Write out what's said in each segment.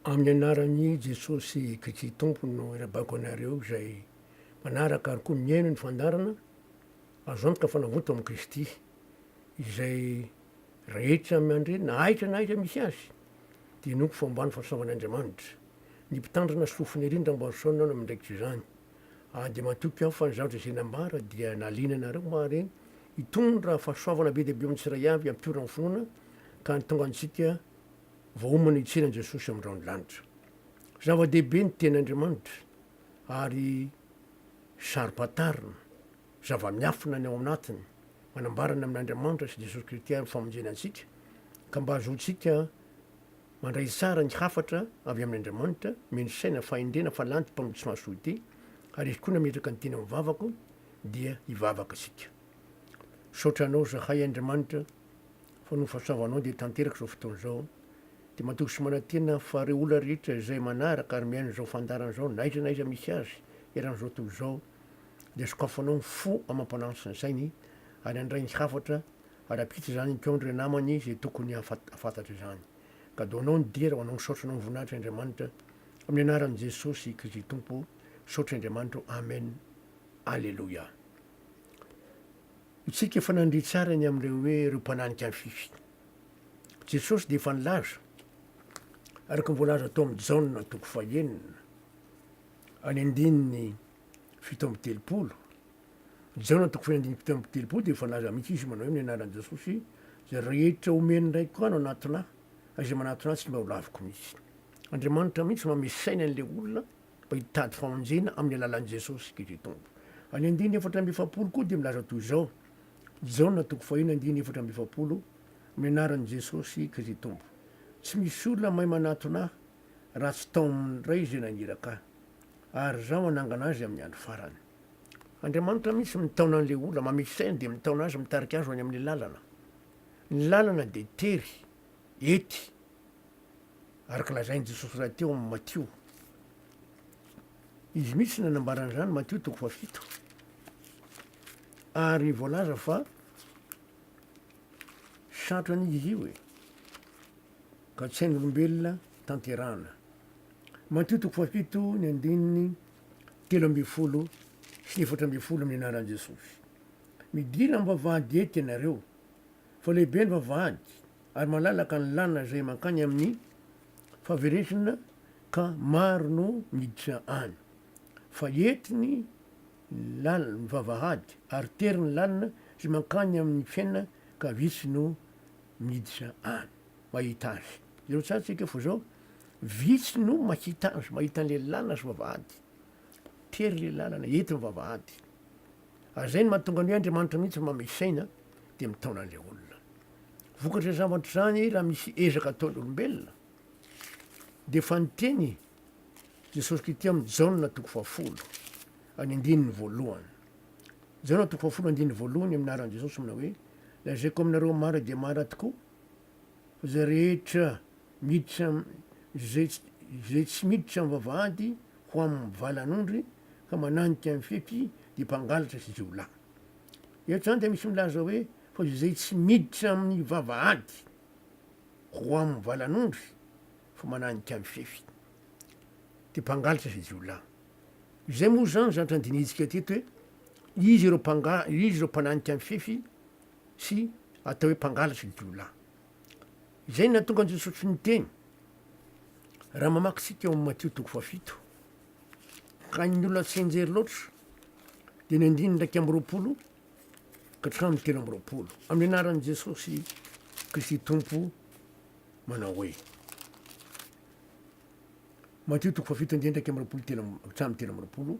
Amin'ny anaran'i Jesosy Kristy Tompo no irabako anareo izay mpanaraka ary koa mihaino ny fandaharana, azo antoka fa navoto amin'i Kristy. Izay rehetra miandre na aiza na aiza misy azy dia hinoako fa homba ny fahasoavan'Andriamanitra. Ny mpitandrina sy fofona ery ny Ramboason no miandraikitra izany. Ary dia matoky aho fa ny zavatra izay nambara dia nahaliana anareo ary hitondra fahasoavana be dia be amin'ny tsiraiavy hampiora ny finoana ka hahatonga antsika vao homana hitsiry an'i Jesosy amin'ny rahon'ny lanitra. Zava-dehibe ny Tenin'Andriamanitra ary saro-pantarina, zava-miafina ny ao anatiny, manambara ny amin'Andriamanitra sy Jesosy Kristy amin'ny famonjena antsika, ka mba hahazoantsika mandray tsara ny hafatra avy amin'Andriamanitra, mino saina fahendrena fa lanty mpamonjy mahasoa ity, ary izy koa nametraka ny teny amin'ny vavako dia hivavaka isika. Misaotra Anao zahay Andriamanitra. fa noho ny fahasoavanao dia tanteraka izao fotoana izao dia matoky sy manantena fa ireo olona rehetra izay manaraka ary miaina izao fandaharana izao na aiza na aiza misy azy eran'izao tontolo izao dia sokafanao ny fo amam-panahiny sy ny sainy ary handray ny hafatra ary hampita izany teo amin'ireo namany izay tokony hahafantatra izany ka doanao ny dera ho anao misaotra anao mivonahitra Andriamanitra amin'ny anaran'i Jesosy Kristy Tompo misaotra Andriamanitra Amen Aleloia Isika efa nandre tsara ny amin'ireo hoe ireo mpananika an'i Fifi. Jesosy dia efa nilaza, araka ny voalaza tao amin'i Jaona toko fahenina, any andininy fito amby telopolo, Jaona toko faheno andininy fito amby telopolo dia efa nilaza mihitsy izy manao hoe amin'ny anaran'i Jesosy, izay rehetra homen'ny Raiko ahy no hanatona ahy, ary izay manatona ahy tsy mba ho laviko mihitsy. Andriamanitra mihitsy no mamesainy an'ilay olona mba hitady famonjena amin'ny alalan'i Jesosy Kristy Tompo. Any andininy efatra amby efapolo koa dia milaza toy izao, Jaona toko fahiny andininy efatra amby efapolo, Amin'ny anaran'i Jesosy Kristy Tompo, tsy misy olona mahay manatona ahy raha tsy tao amin'ny Ray izay naniraka ahy, ary izaho hanangana azy amin'ny andro farany. Andriamanitra mihitsy mitaona an'ilay olona mamitso saina dia mitaona azy mitarika azy ho any amin'ny lalana. Ny lalana dia tery. Ety, araka lazain'i Jesosy rahateo amin'ny Matio. Izy mihitsy no nanambara an'izany, Matio toko fahafito. Ary voalaza fa sarotra anio izy io e, ka tsy hain'olombelona tanterahana. Matio toko fahafito ny andininy telo ambin'ny folo sy ny efatra ambin'ny folo amin'ny anaran'i Jesosy. Midina am-bavahady ety ianareo, Fa lehibe ny vavahady ary malalaka ny làlana izay mankany amin'ny fahaverezna ka maro no miditra any. Fa ety ny làlana, ny vavahady, ary tery ny làlana izay mankany amin'ny fiainana ka vitsy no miditra any. Mahita azy. Jereo tsara tsika fa izao, vitsy no mahita azy, mahita an'ilay làlana sy vavahady. Tery ilay làlana, ety ny vavahady. Ary izay no mahatonga ny hoe Andriamanitra mihitsy no manome saina dia mitaona an'ilay olona. Vokatr'izany zavatra izany raha misy ezaka ataon'ny olombelona dia efa niteny Jesosy Kristy amin'ny Jaona toko fahafolo any andininy voalohany. Jaona toko fahafolo andininy voalohany amin'ny anaran'i Jesosy manao hoe lazaiko aminareo mara dia mara tokoa Izay rehetra miditra izay tsy miditra amin'ny vavahady ho amin'ny valan'ondry ka mananika ny fety dia mpangalatra sy jiolahy. Eto izany dia misy milaza hoe fa izay tsy miditra amin'ny vavahady ho amin'ny valan'ondry fa mananika ny fefy dia mpangalatra sy jiolahy. Izay moa izany zatra andinitsika teto hoe iza ireo mpangalatra, iza ireo mpananika ny fefy? sy atao hoe mpangalatra ny jiolahy. Izay no nahatonga an'i Jesosy niteny, raha mamaky isika ao amin'ny Matio toko fahafito, ka ny olona tsy enjery loatra dia ny andininy iraika amby roapolo ka hatramin'ny telo amby roapolo. Amin'ny anaran'i Jesosy Kristy Tompo manao hoe Matio toko fahafito andininy iraika amby roapolo telo amby- hatramin'ny telo amby roapolo,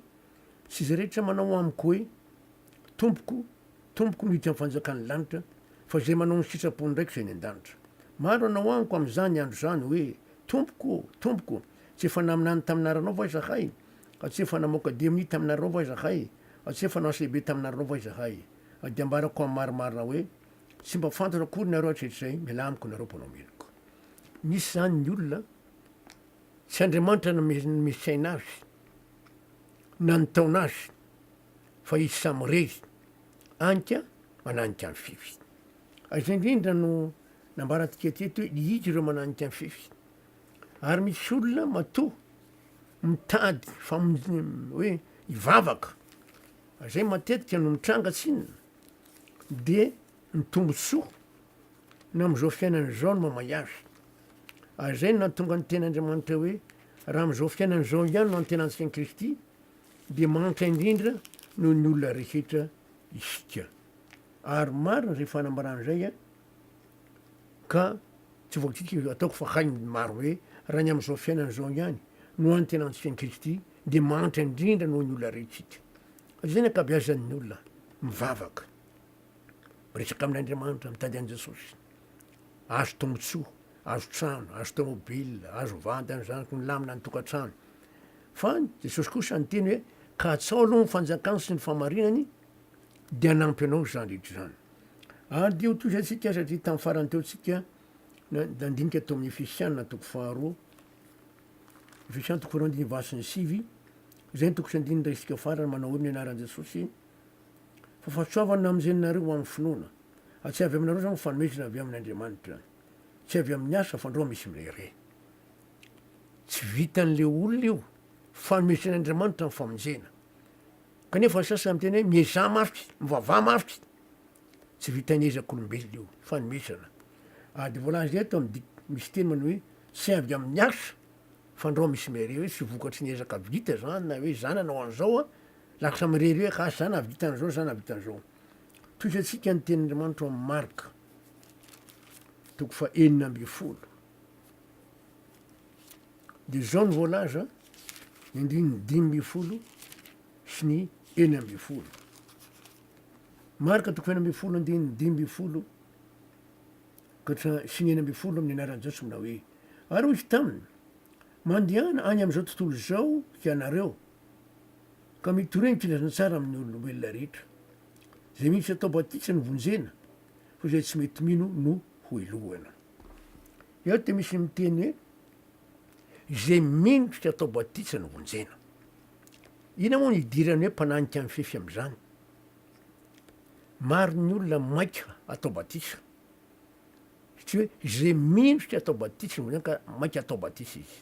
sy izay rehetra manao amiko hoe Tompoko, Tompoko mihitsy amin'ny fanjakan'ny lanitra, fa izay manao ny sitrapony indray kosa eny an-danitra. Maro hanao amiko amin'izany andro izany hoe, Tompoko ô! Tompoko! Tsy efa naminany tamin'aranao va izahay? A tsy efa namoaka DMI taminareo va izahay? A tsy efa nanao CB taminareo va izahay? A dia ambarako amin'ny marimarina hoe, Tsy mba fantatra akory nareo hatretr'izay, mialà amiko nareo mpanao meloka. Misy izany ny olona, tsy Andriamanitra no nomesy aina azy, na nitaona azy. Fa izy samy rery, anika mananika an'i Fiffi. Ary izay indrindra no nambarantsika teto hoe izy ireo mananika an'i Fiffi. Ary misy olona matoa mitady famonjena hoe hivavaka, ary izay matetika no mitranga tsinona, dia ny tombontsoa na amin'izao fiainana izao no mamay azy. Ary izay no nahatonga ny tenin'Andriamanitra hoe raha amin'izao fiainana izao ihany no antenantsika an'i Kristy, Dia mahantra indrindra noho ny olona rehetra isika. Ary marina izay fanambarana izay ka tsy voakitika io ataoko fa hain'ny maro hoe raha ny amin'izao fiainana izao ihany no antenantsika an'i Kristy dia mahantra indrindra noho ny olona rehetra isika. Izay ny ankabeazan'ny olona mivavaka, miresaka amin'Andriamanitra, mitady an'i Jesosy. Azo tombontsoa, azo trano, azo tômôbila, azo vady, azo zanaky ny lamina ny tokantrano. Fa Jesosy kosa niteny hoe, Katsaho aloha ny fanjakany sy ny fahamarinany, dia hanampy anao izany rehetra izany. Ary dia ho toy izay isika satria tamin'ny farany teo isika nandinika tao amin'ny Efesiana toko faharoa, Efesiana toko faharoa andininy valo sy ny sivy, izay ny toko sy andininy iray isika farany manao hoe ny anaran'i Jesosy, fa fahatsoavana amin'izay ninareo ho amin'ny finoana. Ary tsy avy aminareo izany fa fanomezana avy amin'Andriamanitra. Tsy avy amin'ny asa fa androa misy mirehareha. Tsy vitan'ilay olona io. Fanomezan'Andriamanitra ny famonjena. Kanefa ny sasany miteny hoe miezaha mafy, mivavaha mafy. Tsy vitan'ny ezak'olombelona io, fanomezana. Ary dia voalaza eto amin'ny dik, misy teny manao hoe tsy avy amin'ny asa, fandrao misy mirery hoe tsy vokatry ny ezaka vita izany na hoe zany nanao an'izao an, lasa mirery hoe asa zany nahavita an'izao, zany nahavita an'izao. Tohizo antsika ny tenin'Andriamanitra ao amin'ny Marka, toko faha enina ambin'ny folo. Dia izao no voalaza ny andininy dimy ambin'ny folo sy ny enina ambin'ny folo. Marka toko fahenina ambin'ny folo andininy dimy ambin'ny folo ka hatramin'ny sy ny enina ambin'ny folo amin'ny anaran'i Jesosy manao hoe ary hoy izy taminy mandehana any amin'izao tontolo izao hianareo ka mitoreny filazantsara amin'ny olombelona rehetra. Izay mihitsy atao batisa no vonjena fa izay tsy mety mino no hohelohana. Eo dia misy miteny hoe izay mendrika atao batisa no vonjena. Inona moa no idiran'ny hoe mpananika mifefy amin'izany? Maro ny olona maika atao batisa. Tsy hoe izay mendrika atao batisa no vonjena ka maika atao batisa izy.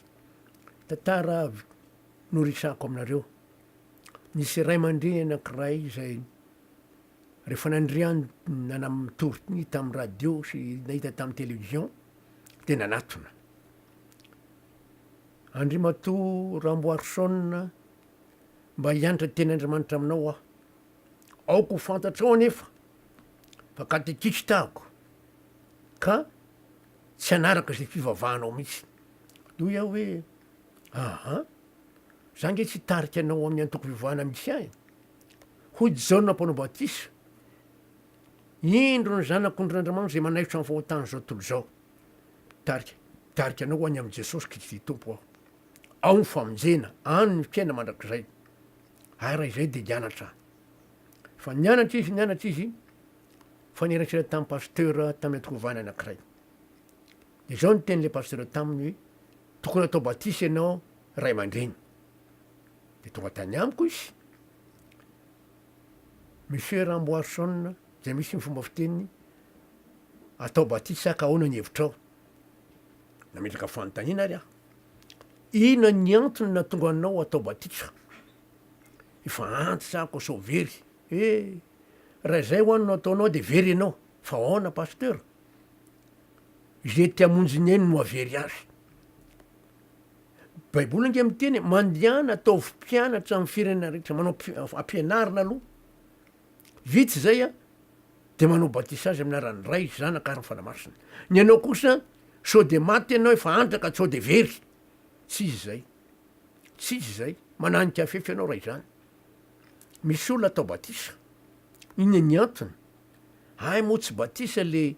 Tantara avy noresahako aminareo. Nisy ray aman-dreny anankiray izay Rehefa nandrian nanamtortny tamin'ny radio sy nahita tamin'ny television dia nanatona. Andrimatoa Ramboarison mba hiantra teny Andriamanitra aminao aho. Aoka ho fantatrao anefa fa katekista aho ka tsy hanaraka izay fivavahanao mihitsy. Hoy aho hoe, aha, za nge tsy hitarika anao amin'ny antoko fivavahana misy ahy. Hoy Jaona Mpanao Batisa, Indro ny Zanak'ondrin'Andriamanitra izay manaitra ny fahotan'izao tontolo izao. Mitarika, mitarika anao ho any amin'i Jesosy Kristy Tompo aho. Ao ny famonjena, any ny fiaina mandrakizay. Ary raha izay dia hianatra. Fa nianatra izy, nianatra izy, fa nierankera tamin'ny pasteur tamin'ny antokovana anankiray. Dia izao ny tenin'ilay pasteur taminy hoe, tokony atao batisa ianao ray aman-dreny. dia tonga tany amiko izy, Monsieur Ramboarison, izay misy ny fomba fiteniny, atao batisa ka ahoana ny hevitrao? Nametraka fanontaniana ary aho. Inona ny antony nahatonga anao atao batisa? Efa antitra ako sao very. Eh, raha izay ho an'ny nataonao dia very ianao. Fa ahoana pasteur? Izay te hamonjy ny ainy no havery azy. Ny baiboly ange miteny mandehana ataovy mpianatra amin'ny firenena rehetra manao ampianarina aloha vitsy izay a de manao batisa azy amin'ny aran'ny ray sy zanaka ary ny fanamasina ny anao kosa sao de maty ianao efa antraka sao de very tsy izy izay tsy izy izay mananika fefy ianao raha izany misy olona atao batisa iny ny antony ay moa tsy batisa le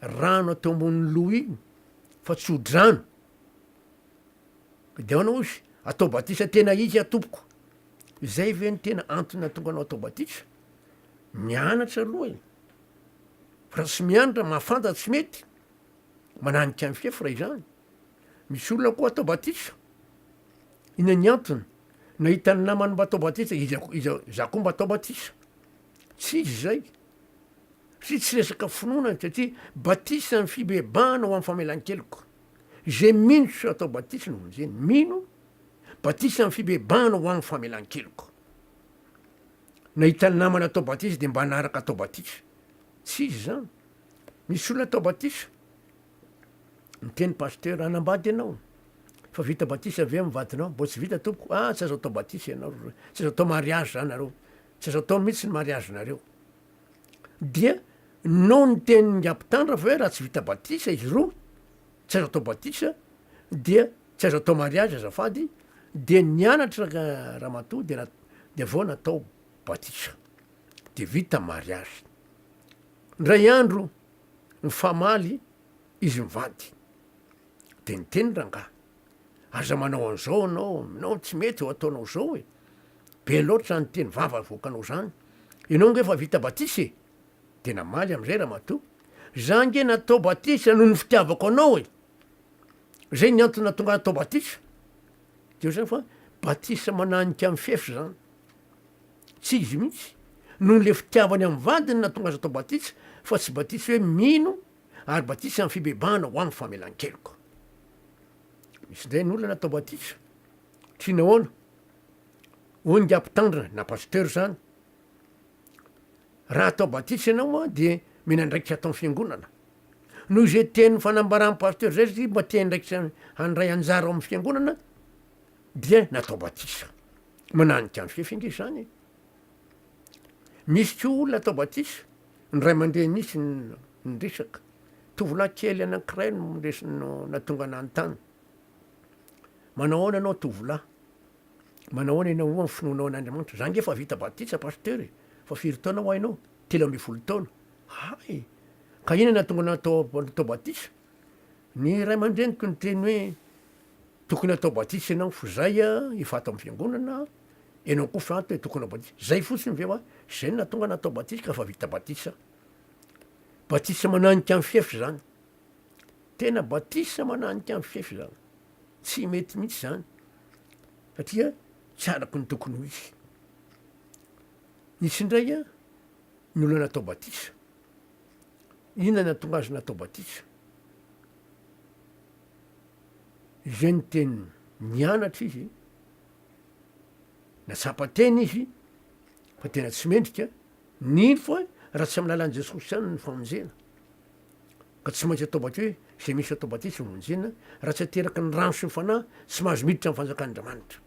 rano atao ambon'ny loha iny fa tsy ho drano Dia ahoana ozy atao batisa tena izy a tompoko? Izay ve no tena antony nahatonga anao atao batisa? Mianatra aloha e! Fa raha tsy mianatra, mahafantatra tsy mety, mananika ny fefy raha izany. Misy olona koa atao batisa, inona ny antony? Nahita ny namany mba atao batisa, izy, izy, za koa mba atao batisa. Tsy izy izay. Satria tsy resaka finoana, satria batisa ny fibebahana ho amin'ny famelan-keloka. Izay mino tsy atao batisa no vonjena. Mino, Batisa amin'ny fibebahana ho amin'ny famelan-keloka. Nahita namana atao batisa dia mba hanaraka atao batisa. Tsy izy izany. Misy olona atao batisa. Miteny pasteur, hanambady ianao. Fa vita batisa ve amin'ny vadinao? Mbola tsy vita tompoko. Ah, tsy azo atao batisa ianao. Tsy azo atao mariage zany nareo. Tsy azo atao mihitsy ny mariage nareo. Dia nao ny tenin' Ingahy Mpitandra fa hoe raha tsy vita batisa izy roa, tsy azo atao batisa, dia tsy azo atao mariazy azafady, dia nianatra ramatoa dia dia vao natao batisa, dia vita mariazy. Indray andro nifamaly izy mivady, dia niteny rangahy. Aza manao an'izao anao, aminao tsy mety eo ataonao izao e! Be loatra zany teny vava avoakanao zany. Ianao nge efa vita batisa e! Dia namaly amin'izay ramatoa, za nge natao batisa noho ny fitiavako anao e! Zay ny antony nahatonga ahy hatao batisa. Dia eo zany fa batisa mananika ny fefy zany. Tsy izy mihitsy, noho le fitiavany amin'ny vadiny nahatonga azy atao batisa fa tsy batisa hoe mino ary batisa amin'ny fibebahana ho amin'ny famelan-keloka. Misy indray ny olona natao batisa, tsy nahoana, hoy ny ga mpitandrina na pasteur izany, raha atao batisa ianao an dia mila andraikitra atao fiangonana. Noho izay teny fanambaran'ny pasteur izay satria mba te andraikitra handray anjara ao amin'ny fiangonana dia natao batisa. Mananika ny fefy ange izany e. Nisy koa olona tao batisa, ny ray aman-dreny mihitsy no niresaka. Tovolahy kely anankiray no resy no natonga nanontany. Manao ahoana ianao tovolahy? Manao ahoana ianao ho amin'ny finoanao an'Andriamanitra? Za nge efa vita batisa pasteur e, fa firy taona hoa ianao? Telo ambin'ny folo taona. Hay! Ka inona no nahatonga anao atao atao batisa? Ny ray aman-dreniko niteny hoe tokony atao batisa ianao, fa zay efa ato amin'ny fiangonana, Enao koa fa te tokona batisa. Zay fotsiny ve wa? Zay no natonga natao batisa ka fa vita batisa. Batisa mananika ny fefy zany. Tena batisa mananika ny fefy zany. Tsy mety mihitsy zany. Satria tsy araky ny tokony ho izy. Nisy indray a ny olona natao batisa. Inona no natonga azy natao batisa? Izay ny teniny. Nianatra izy Natsapa teny izy fa tena tsy mendrika, nino fa raha tsy amin'ny lalan'i Jesosy ihany ny famonjena ka tsy maintsy atao batisa hoe izay misy atao batisa no vonjena raha tsy ateraky ny rano sy ny fanahy tsy mahazo miditra amin'ny fanjakan'Andriamanitra.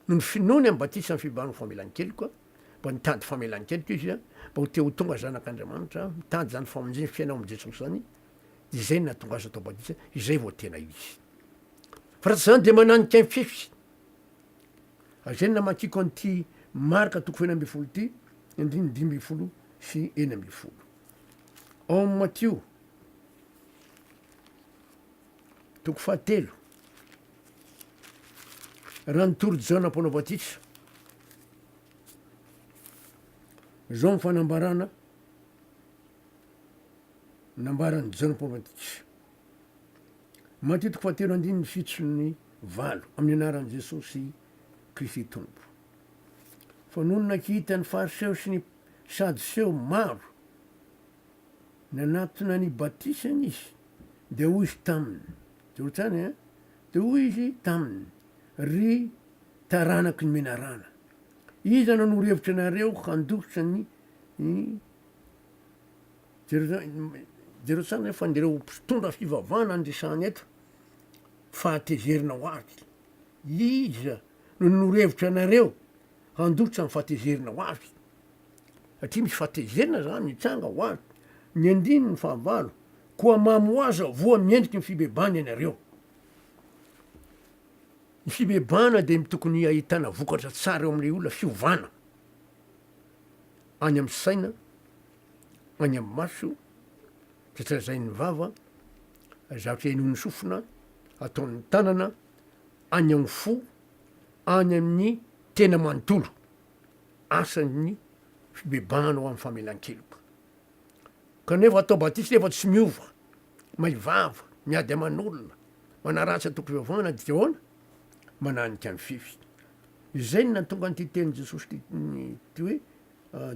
Noho ny finoany amin'ny batisa amin'ny fibahan'ny famelan-keloka, mba nitady famelan-keloka izy mba ho te ho tonga zanak'Andriamanitra, mitady izany famonjena fiainao amin'i Jesosy izany, dia izay no nahatonga azy ho taoba-disa, izay vao tena izy. Fa raha tsy izany dia mananika ny fefy. Izay no namakiako an'ity Marka toko fahina ambin'ny folo ity, andininy dimy ambin'ny folo sy enina ambin'ny folo. Ao amin'ny Matio, toko fahatelo, raha nitory Jaona mpanao batisa, izao ny fanambarana, nambaran'i Jon Povatic, Matitiko fahatelo andininy fito sy ny valo amin'ny anaran'i Jesoa sy Kristy Tompo. Fa nony nakita ny Fariseo sy ny Sadoseo maro nanatona ny batisany izy, dia hoy izy taminy, Jorotsany eh, dia hoy izy taminy, Ry taranaky ny menarana, iza no norohevitra anareo handositra ny Jereo tsara nefa an'ireo mpitondra fivavahana ny resahana eto fa hatezerina ho avy. Iza no norevitra anareo handotsa ny fahatezerina ho avy? Satria misy fahatezerina zany mitranga ho avy. Ny andininy fahavalo, koa mamy ho azy ao voa miendriky ny fibebahana ianareo. Ny fibebahana dia tokony ahitana vokatra tsara eo amin'ilay olona, fiovana. Any amin'ny saina, any amin'ny maso, dia trazain'ny vava, zavatra henoin'ny sofina, ataon'ny tanana, any amin'ny fo, any amin'ny tena manontolo, asan'ny fibebahana ho amin'ny famelan-keloka. Kanefa atao batisa nefa tsy miova, may vava, miady aman'olona, manaratsy antokom-pivavahana, dia ahoana? mananika ny fefy. Izay no nahatonga an'ity tenin'i Jesosy ity ity hoe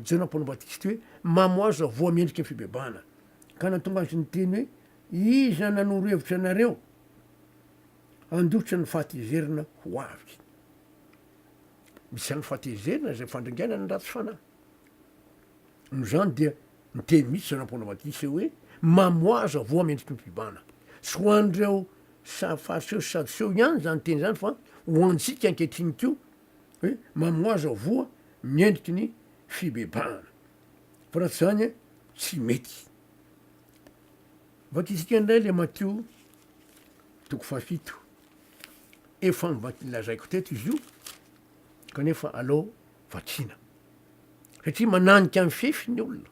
Jaona mpanao batisa ity hoe mamo aza voa mendriky ny fibebahana. Ka nahatonga azy niteny hoe iza nanoro hevitra anareo handositra ny fahatezerana ho avy. Misy ihany fahatezerana izay fandringaina ny ratsy fanahy. Noho izany dia niteny mihitsy Jaona mpanao batisa hoe mamo aza voa mendriky ny fibebahana. Tsy ho an'ireo Sa fariseo sadoseo ihany izany teny izany fa ho antsika ankehitriny koa hoe mamoaza ho voa ny endriky ny fibebahana. Fa raha tsy izany tsy mety. Vakintsika indray ilay Matio toko fahafito. Efa novakin lazaiko teto izy io kanefa aleo vakina. Satria mananika ny fefy ny olona.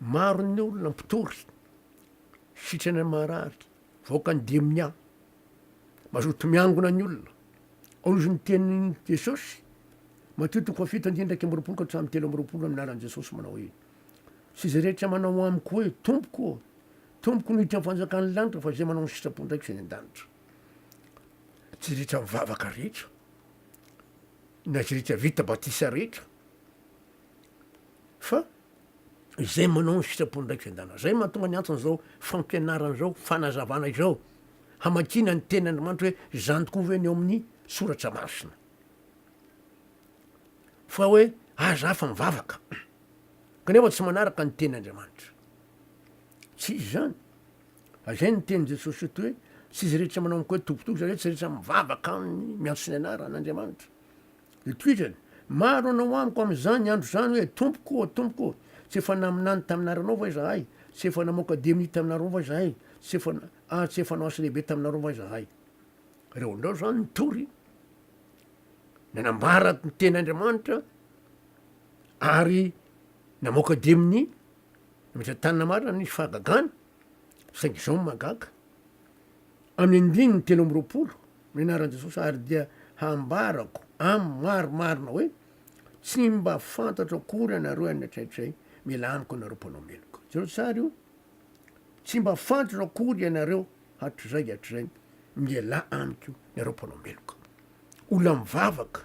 Maro ny olona mpitory. Sitrana ny marary, mivoaka ny demonia, mazoto miangona ny olona. Ao izy ny tenin'i Jesosy, Matio toko fahafito andininy iraika amby roapolo ka hatramin'ny telo amby roapolo amin'ny anaran'i Jesosy manao hoe, Tsy izay rehetra manao amiko hoe, Tompoko ô, Tompoko no hiditra am'fanjakan'ny lanitra fa izay manao ny sitrapon'Raiko izay any an-danitra. Tsy izay rehetra mivavaka rehetra, na izay rehetra vita batisa rehetra, fa izay manao ny sitrapon'Raikefendana. Izay mahatonga ny antony izao fampianarana izao, fanazavana izao, hamakiana ny teny Andriamanitra hoe izany tokoa ve ny ao amin'ny soratra masina. Fa hoe aza hafa mivavaka kanefa tsy manaraka ny teny Andriamanitra. Tsy izy izany. Azay ny teny Jesosy eto hoe tsy izy rehetra manao amiko hoe tompotoko, izany hoe tsy rehetra mivavaka aminy miantso ny anaran'Andriamanitra. Itoetrany, Maro hanao amiko amin'izany andro izany hoe, Tompoko ô, Tompoko ô, tsy efa naminany tamin'anaranao va izahay? Tsy efa namoaka demony taminareo va izahay? Tsy efa, ary tsy efa nanao asa lehibe taminareo va izahay? Reo indreo izany nitory, nanambara ny tenin'Andriamanitra, ary namoaka demony, nametra-tanana marina, nisy fahagagana, saingy izao ny mahagaga, Amin'ny andininy telo amby roapolo, ny anaran'i Jesosy, ary dia hambarako amin'ny maro marina hoe, Tsy mba fantatro akory anareo any an-traitray, mila amiko anareo mpanao meloka. Jereo tsara io, Tsy mba fantatro akory ianareo hatrizay hatrizay, mila amiko ianareo mpanao meloka. Olona mivavaka,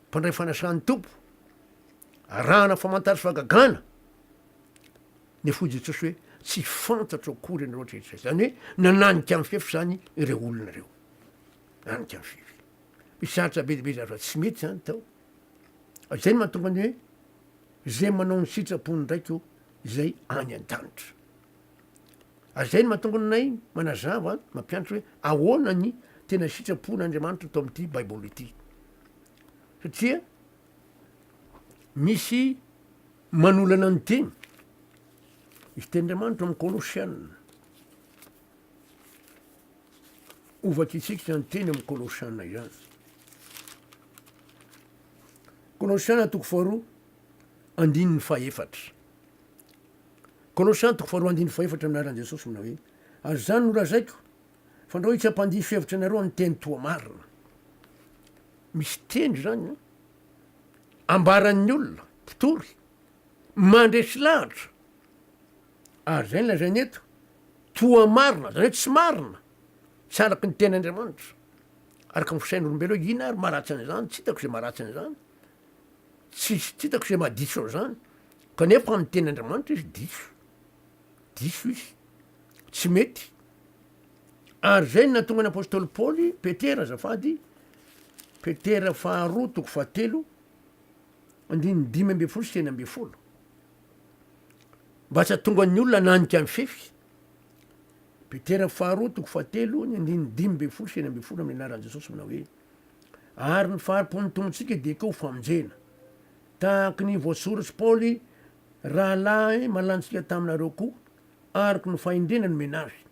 mpandray fanasan'ny Tompo, arahana famantaran'ny fahagagana, dia fohy Jesosy hoe, tsy fantatro akory ianareo hatrizay. Izany hoe nananika ny fefy izany ireo olona ireo. Nanika ny fefy. Mpisaritra be dia be izany fa tsy mety izany tao. Izay no mahatonga ny hoe izay manao ny sitrapony ndraiky o izay any an-danitra. Ary izay no mahatonga anay manazava mampianatra hoe ahoana ny tena sitrapon'Andriamanitra tao amin'ity Baiboly ity. Satria misy Manolana ny teny. Izy teny Andriamanitra amin'ny Kolosiana. Ho vakintsika izany teny amin'ny Kolosiana izany. Kolosiana toko faharoa andininy fahefatra. Kolosiana toko faharoa andininy fahefatra ny laharan'i Jesosy manao hoe ary izany no lazaiko fa andrao tsy hampandiso hevitra anareo amin'ny teny toa marina. Misy teny izany eh? ambaran'ny olona mpitory mandresy lahatra ary izay no lazainy eto toa marina izany hoe tsy marina tsy araka ny teny Andriamanitra araka ny fisain'olombelona ina ary maratsy an'izany tsy hitako izay maratsy an'izany tsy tsy hitako izay mahadiso an'izany kanefa amin'ny teny Andriamanitra izy diso diso izy tsy mety Ary izay no nahatonga ny apostoly Paoly, Petera azafady, Petera faharoa toko fahatelo, andininy dimy ambin'ny folo sy enina ambin'ny folo. Mba tsy hahatonga ny olona nanika ny fefy. Petera faharoa toko fahatelo, ny andininy dimy ambin'ny folo sy enina ambin'ny folo amin'ny anaran'i Jesosy manao hoe ary ny faharopon'ny tomontsika dia koa ho famonjena. Tahaka ny voasoratr'i Paoly, rahalahy malantsika taminareo koa, Aroko no fahendrena nomena azy,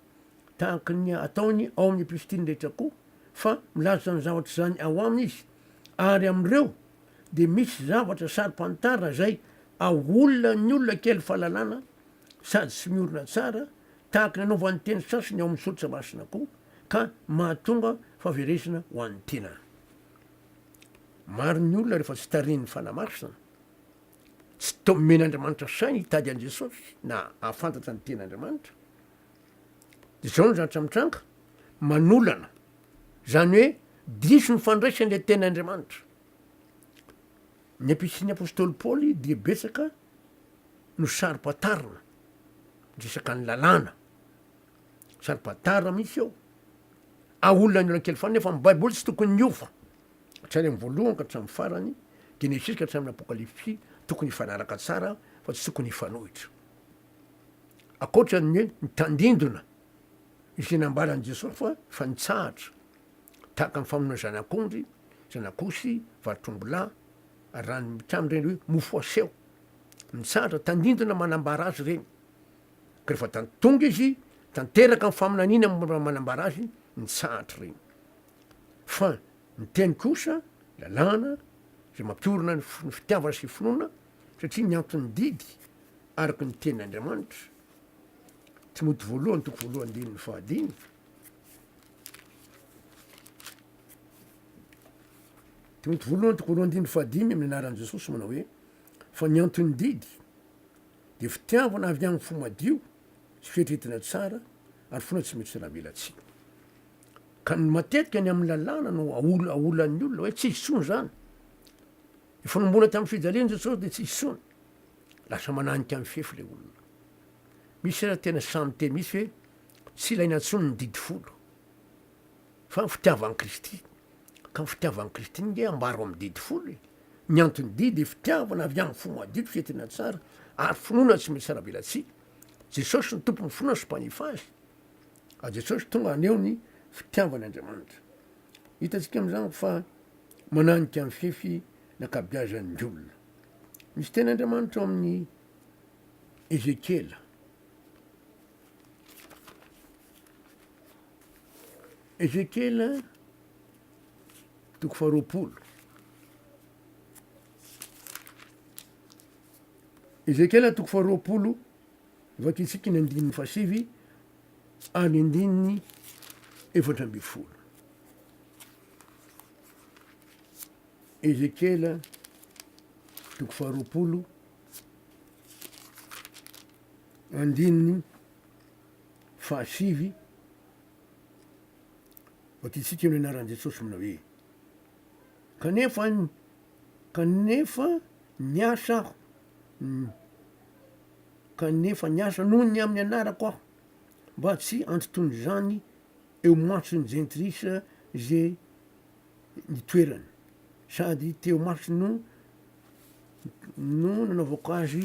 tahaka ny ataony ao amin'ny epistily rehetra koa, fa milaza izany zavatra izany ao aminy izy, ary amin'ireo dia misy zavatra saro-pantarina izay aolona ny olona kely fahalalana sady tsy miorina tsara, tahaka ny anaovan'ny teny sasany ao amin'ny soratra masina koa, ka mahatonga fahaverezana ho an'ny tena. Maro ny olona rehefa tsy tarihin'ny Fanahy Masina. Tsy tao omen'Andriamanitra saina hitady an'i Jesosy na hahafantatra ny Tenin'Andriamanitra. Dia izao no zavatra mitranga, manolana, izany hoe diso ny fandraisany ilay Tenin'Andriamanitra. Ny Epistolin'ny Apostoly Paoly dia betsaka no saro-pantarina, resaka ny lalàna, saro-pantarina mihitsy eo. Aolona ny olona kely foana, nefa ny Baiboly tsy tokony hiova hatrany amin'ny voalohany ka hatramin'ny farany, Genesisy ka hatramin'ny Apokalypsy, tokony hifanaraka tsara fa tsy tokony hifanohitra. Ankoatra ny hoe nitandindona izay nambaran'i Jesosy fa efa nitsahatra, tahaka ny famonoana zanak'ondry, zanak'osy, vatotr'ombilahy, ary raha ny mpitam ireny hoe mofo aseho. Nitsahatra, tandindona manambara azy ireny. Ka rehefa tan- tonga izy, tanteraka ny faminaniana mora manambara azy, nitsahatra ireny. Fa ny teny kosa, lalàna, izay mampiorina ny fitiavana sy finoana, satria ny anton'ny didy araka ny tenin' Andriamanitra, Timoty voalohany toko voalohany andininy fahadimy, Timoty voalohany toko voalohany andininy fahadimy amin'ny anaran'i Jesosy manao hoe, fa ny anton'ny didy dia fitiavana avy amin'ny fo madio sy fieritreretana tsara ary finoana tsy mety ho salavelatsihy. Ka ny matetika ny amin'ny lalàna no aolan'ny olona hoe tsy hisy intsony izany. Ny fanomboana tamin'ny fijalian'i Jesosy dia tsy hisy intsony. Lasa mananika ny fefy ilay olona. Misy aza tena sahy miteny mihitsy hoe tsy ilaina intsony ny didy folo. Fa ny fitiavan'i Kristy. Ka ny fitiavan'i Kristy nge ambaro amin'ny didy folo e. Ny antony didy dia fitiavana avy amin'ny fo madio, fihetena tsara ary finoana tsy misy aravelatsihy. Jesosy no tompon'ny finoana sy mpanefa azy. Ajo Tsotra tonga haneho ny fitiavany Andriamanitra. Hitantsika amin'izany fa mananika ny fefy ny ankabeazan'ny olona. Misy teny Andriamanitra ao amin'ny Ezekiela. Ezekiela toko faharoapolo. Ezekiela toko faharoapolo Vakintsika ny andininy fahasivy ary ny andininy efatra ambin'ny folo. Ezekiela toko faharoapolo andininy fahasivy, vakintsika ny anaran'i Jesosy manao hoe. Kanefa, kanefa niasa aho, kanefa niasa noho ny amin'ny anarako aho, mba tsy handotoan'izany eo mason'ny jentilisa ze ny toerany, sady teo masony no no nanaovako azy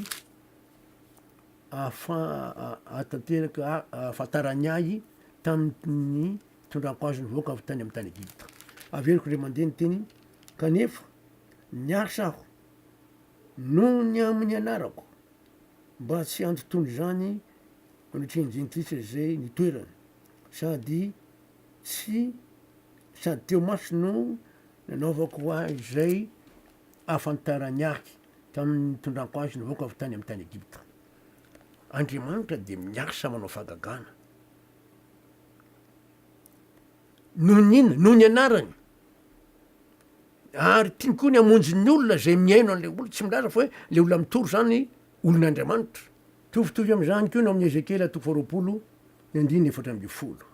ahafa- ahatanteraka ahafantarany ahy tamin'ny. Tondrako azy ny vahoaka avy tany amin'ny tany Egypta. Averiko indray mandeha ny teniny, kanefa niasa aho noho ny amin'ny anarako, mba tsy handotony izany anatrehan'ny Jentilisa izay nitoerany, sady tsy sady teo maso no nanaovako ahy izay ahafantarany ahy tamin'ny nitondrako azy ny vahoaka avy tany amin'ny tany Egypta. Andriamanitra dia miasa manao fahagagana. Noho ny inona? Noho ny anarany. Ary tiany koa ny hamonjy ny olona izay mihaino an'ilay olona. Tsy milaza fa hoe ilay olona mitory izany olon'Andriamanitra. Mitovitovy amin'izany koa ny ao amin'ny Ezekiela toko faharoapolo ny andininy efatra ambin'ny folo.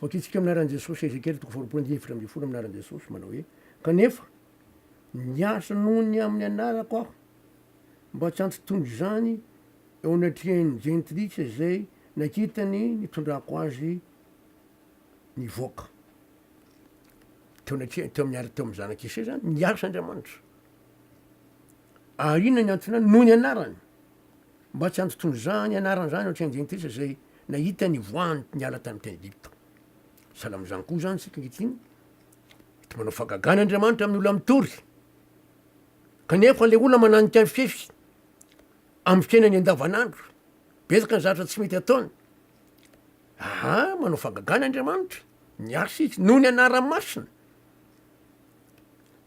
Vakintsika amin'ny anaran'i Jesosy Ezekiela toko faharoapolo andininy efatra ambin'ny folo amin'ny anaran'i Jesosy manao hoe, Kanefa, niasa noho ny amin'ny anarako aho. mba tsy hampitondra izany eo anatrehan'ny jentilisa izay nakitany nitondrako azy nivoaka teo anatrehany teo amin'ny ary teo amin'ny zanak'i Isay izany ny asa Andriamanitra. Ary inona ny antony any? Noho ny anarany. Mba tsy hampitondra izany anarany izany eo anatrehan'ny jentilisa izay nahita ny voany niala tamin'ny tany Egypta. Sahala amin'izany koa izany isika ankehitriny, mety manao fagagana Andriamanitra amin'ny olona mitory. Kanefa ilay olona mananika ny fefy amin'ny fiainany andavanandro, betsaka ny zavatra tsy mety ataony. Aha, manao fagagana Andriamanitra, miasa izy noho ny anarany masina,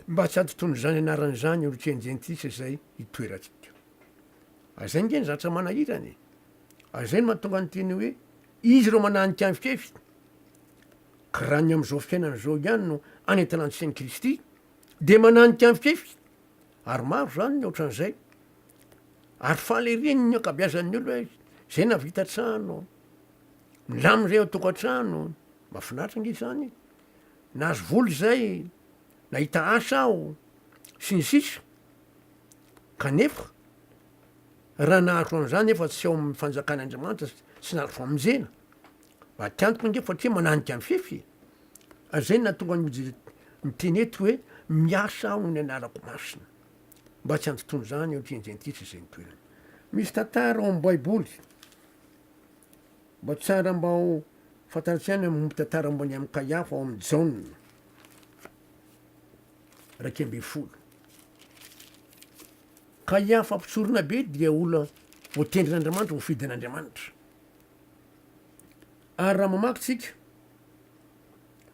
mba tsy hatonton'izany anarany izany ireo teny jentilisa izay itoerantsika. Ary izay nge ny zavatra manahirana e. Ary izay no mahatonga ny teny hoe izy ireo mananika ny fefy, ka raha ny amin'izao fiainana izao ihany no anentanantsika an'i Kristy, Dia mananika mifefy, ary maro izany ny ohatran'izay. Ary faly ery ny ankabeazan'ny olona hoe izay nahavita trano, milamina izay ao tokantrano, mahafinaritra ange izany e, nahazo vola izay, nahita asa aho, sy ny sisa. Kanefa, raha nahazo an'izany efa tsy ao amin'ny fanjakan'Andriamanitra sy nahazo famonjena, maty antoka ange fa satria mananika mifefy e. Zay no nahatonga an'i Joseph niteny eto hoe, Miasa aho ny anarako masina, mba tsy handotoana izany eo anatrehan'ny Jentilisa izay nitoerany. Misy tantara ao amin'ny Baiboly, mba tsara mba ho fantarantsika ihany amin'ny momba tantara momba an'i Amkaiafa ao amin'ny Jaona iraika ambin'ny folo. Kaiafa mpitsoronabe dia olona voatendrin'Andriamanitra, voafidy an'Andriamanitra. Ary raha mamaky tsika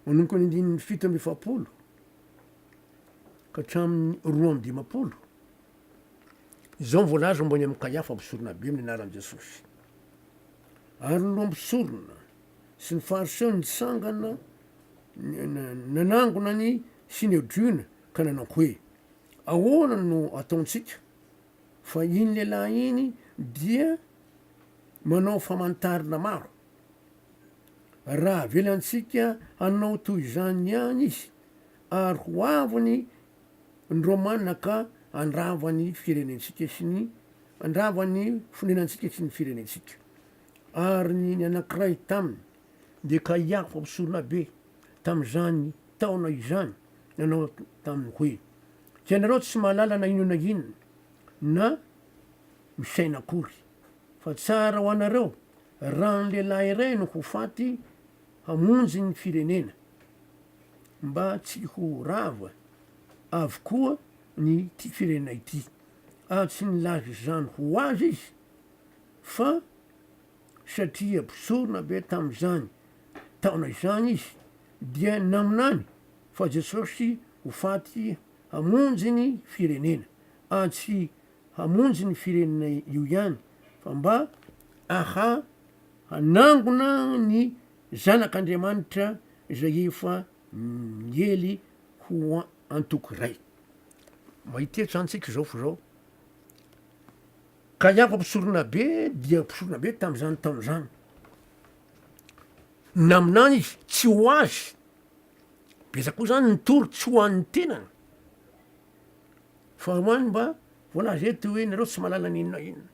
manomboka ny andininy fito amby efapolo ka hatramin'ny roa amby dimampolo, izao no voalaza momba ny amin'i Kaiafa mpisoronabe amin'ny anaran'i Jesosy, Ary ny loha mpisorona sy ny Fariseo nitsangana nanangona ny Synedriona ka nanao hoe, Ahoana no ataontsika? Fa iny lehilahy iny dia manao famantarana maro. Raha avelantsika hanao toy izany ihany izy, ary ho avy ny ny Romana ka handrava ny firenentsika sy ny handrava ny fonenantsika sy ny firenentsika. Ary ny ny anankiray taminy. Dia ka i Afa Mpisolabe tamin'izany taona izany nanao taminy hoe, Tsy ianareo tsy mahalala na inona na inona, na misaina akory, fa tsara ho anareo raha ny lehilahy iray no ho faty hamonjy ny firenena, mba tsy ho rava avokoa ny ity firenena ity, ary tsy nilaza izany ho azy izy, fa. satria mpisorona be tamin'izany taona izany izy, dia naminany fa Jesosy ho faty hamonjy ny firenena, ary tsy hamonjy ny firenena io ihany, fa mba aha hanangona ny Zanak'Andriamanitra izay efa niely ho antoko iray. Mahitetsy antsika izao fo izao. Ka ianko mpisoronabe dia mpisoronabe tamin'izany taona izany. Naminany izy, tsy ho azy. Betsaka koa izany ny tory tsy ho an'ny tenany. Fa ho an'ny mba voalaza eto hoe nareo tsy malala ny inona inona.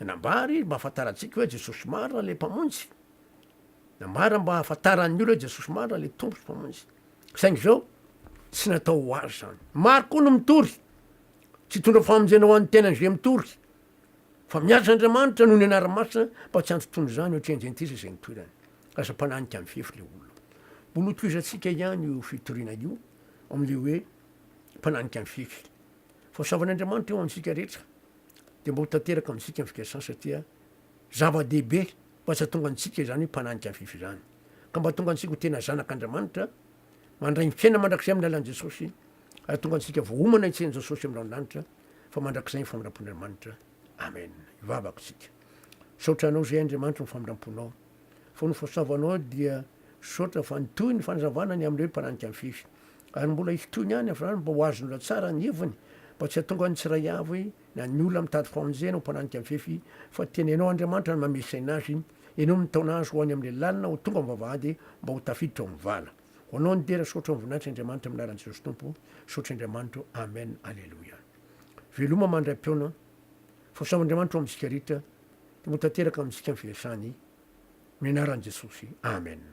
Nambary mba hafantarantsika hoe Jesosy marina ilay mpamonjy. Nambara mba hafantaran'ny olona hoe Jesosy marina ilay tompo sy mpamonjy. Saingy izao tsy natao ho azy izany. Maro koa no mitory Tsy hitondra famonjena ho an'ny tenany izay mitory, fa miasa Andriamanitra noho ny anarany masina mba tsy hantontoana izany ohatry Indentisa izay nitoerany. Lasa mpananika mifefy ilay olona. Mbola hotohizantsika ihany io fitoriana io amin'ilay hoe mpananika mifefy. Fahasoavan'Andriamanitra eo amintsika rehetra dia mba ho tanteraka amintsika amin'ny fikasany satria zava-dehibe mba tsy hahatonga antsika izany mpananika mifefy izany, ka mba hahatonga antsika ho tena zanak'Andriamanitra Mandray ny fiainana mandrakizay amin'ny alalan'i Jesosy hahatonga antsika voaomana hitsen'i Jesosy amin'ny ranondanitra fa mandrakizay ny famindram-pon'Andriamanitra. Amen. Hivavaka isika. Misaotra Anao izay Andriamanitro ny famindram-ponao. Fony ny fahasoavanao dia misaotra fa nitohy ny fanazavana ny amin'ireo mpananika mifefy. Ary mbola hitohy ihany avy izany mba ho azon'ny olona tsara ny heviny mba tsy hahatonga ny tsiraiavy na ny olona mitady famonjena ho mpananika mifefy fa tena Ianao Andriamanitra no mamesaina azy Enao ny taona azo ho any amin'ilay lalina ho tonga ao amin'ny vavahady mba ho tafiditra ao amin'ny vala. Ho anao ny dera saotra voninahitra Andriamanitra amin'ny anaran'i Jesosy Tompo saotra Andriamanitro Amen Aleloia Veloma mandray mpihaona fa samy Andriamanitro amintsika ritra Tompo tanteraka amintsika ny firesany amin'ny anaran'i Jesosy Amen.